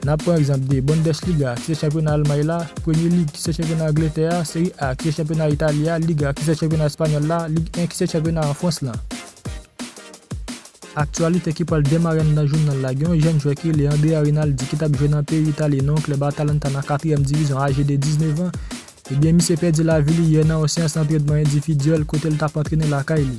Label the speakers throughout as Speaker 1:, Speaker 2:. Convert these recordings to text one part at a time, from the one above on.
Speaker 1: N ap pran egzanp de Bundesliga, ki se chanpyona Almay la, Premier League, ki se chanpyona Angletè a, Serie A, ki se chanpyona Itali a, Liga, ki se chanpyona Espanyòl la, Ligue 1, ki se chanpyona an Frans lan. Aktyalite ki pral demare anndan jounal la, gen yon jèn jwè ki rele Andrea Rinaldi ki t ap jwe nan peyi Itali nan yon klèb Atalanta nan katriyèm divizyon aje de 19 an, ebyen misye pèdi lavi li yè nan yon seyans antrenman endividyèl kote l t ap antrene lakay li.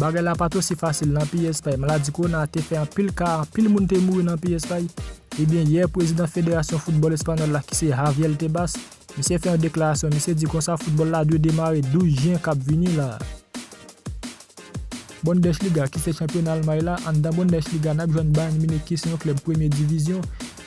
Speaker 1: Bagay la pat osi fasil nan peyi Espay maladi kowona te fè anpil ka anpil moun te mouri nan peyi Espay ebyen yè prezidan federasyon foutbòl espanyòl la ki se Javier Tebas misye fè yon deklarasyon misye di konsa foutbòl la dwe demare 12 jen kap vini la a. Bundesliga ki se chanpyona Almay la anndan Bundesliga nap jwenn Bayern Munich ki se yon klèb premye divizyon.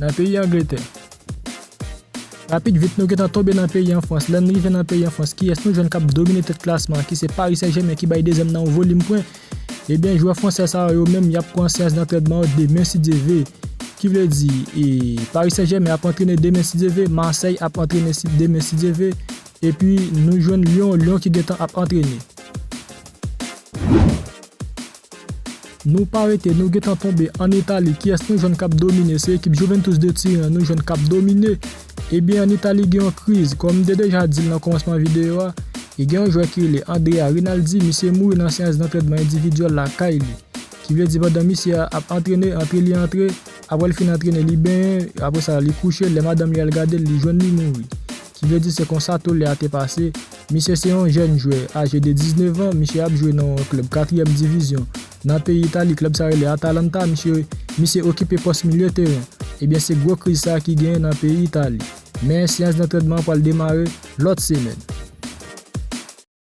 Speaker 1: Nan peyi Angletè. Rapid vit nou gentan tonbe nan peyi an Frans, lèn rive nan peyi an Frans kiyès nou jwenn kap domine tèt klasman an ki se Paris Saint Germain ki bay dezyèm nan yon volim pwen, ebyen jwè fransè sa yo yo menm yap pran seyans dantrèdman yo demen si Dye ve, ki vle di e Paris Saint Germain ap antrene demen si Dye ve, Marseille ap antrene si demen si Dye ve, epi nou jwenn Lyon, Lyon ki gentan ap antrene. Nou pa rete nou gentan tonbe an Italie kiyès nou jwenn kap domine se ekip Juventus de Turin an nou jwenn kap domine ebyen an Italie gen yon kriz kòm m te deja dil nan kòmansman videyo a e gen yon jwè ki rele Andrea Rinaldi misye mouri nan seyans dantrèdman endividyèl lakay li ki vle di pandan misye a ap antrene antre li antre aprè l fin antrene li benyen aprè sa li kouche lè madanm li al gadel li jwenn li mouri. Ki vle di se konsa tole a te pase. Misye se yon jèn jwè, aje de 19 an, misye ap jwe nan yon klèb katriyèm divizyon nan peyi Itali, klèb sa rele Atalanta, misye misye okipe pòs milye teren. Ebyen se gwo kriz sa ki genyen nan peyi Itali. Men, seyans dantredman an pral demare lòt semèn.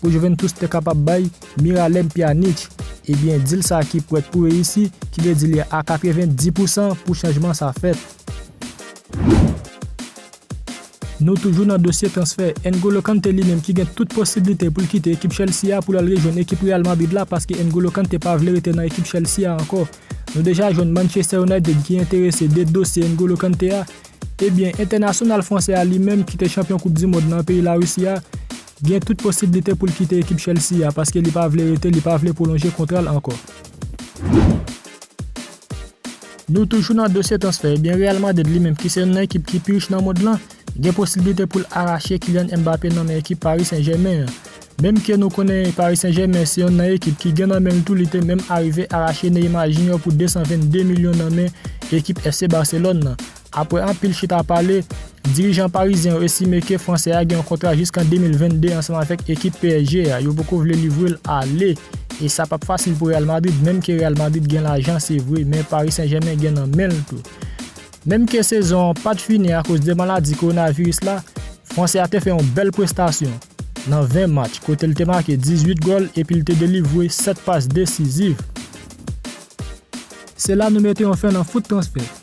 Speaker 1: Pou Juventus te kapab bay Miralem Pjanic, ebyen dil sa ki prèt pou reyisi, ki vle di li a 90 pou san pou chanjman sa fèt. Nou toujou nan dosye transfè, N'Golo Kanté li menm ki gen tout posiblite pou l kite ekip Chelsea a pou l al rejwenn ekip Real Madrid la paske N'Golo Kanté pa vle rete nan ekip Chelsea a ankò. Nou deja jwenn Manchester United ki enterese de dosye N'Golo Kanté a. Ebyen entènasyonal fransè a li menm ki te chanpyon koup dimond nan peyi Larisi a, Gen tout posiblite pou l kite ekip Chelsea a paske li pa vle rete, li pa vle pwolonje kontra l ankò. Nou toujou nan dosye transfè, ebyen Real Madrid li menm ki se youn nan ekip ki pi rich nan mond lan, gen posiblite pou l arache Kylian Mbappé nan men ekip Paris Saint Germain an. Menm ke nou konnen Paris Saint Germain se youn nan ekip ki gen nan men l tou li te menm arive arache Neymar Junior pou 222 milyon nan men ekip FC Barcelone lan. Apre anpil chita pale, dirijan parizyen yo estime ke fransè a gen yon kontra jiskan 2022 ansanm avèk ekip psg a, yo poko vle livre l ale e sa pap fasil pou Real Madrid menm ke Real Madrid gen lajan se vre men Paris Saint Germain gen nan men l tou. Menm ke sezon an pat fini akoz de maladi kowonaviris la, fransè a te fè yon bèl prestasyon nan 20 match kote l te make 18 gòl epi l te delivre 7 pas desiziv. Se la nou mete yon fen nan foot transfè.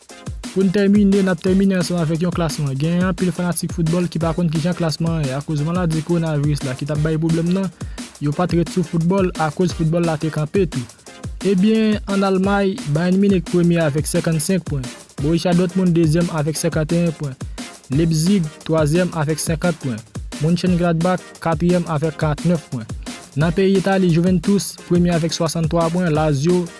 Speaker 1: Pou n tèmine, n ap tèmine ansanm avèk yon klasman. Genyen anpil fanatik foutbòl ki pa konn kijan klasman an ye akoz maladi kowonaviris la ki t ap bay pwoblèm nan, yo pa t ret sou foutbòl akoz foutbòl la te kanpe tou. Ebyen, ann Almay, Bayern Munich premye avèk 55 pwen, Borussia Dortmund dezyèm avèk 51 pwen, Leipzig twazyèm avèk 50 pwen, Mönchengladbach katriyèm avèk 49 pwen. Nan peyi Itali, Juventus premye avèk 63 pwen, Lazio.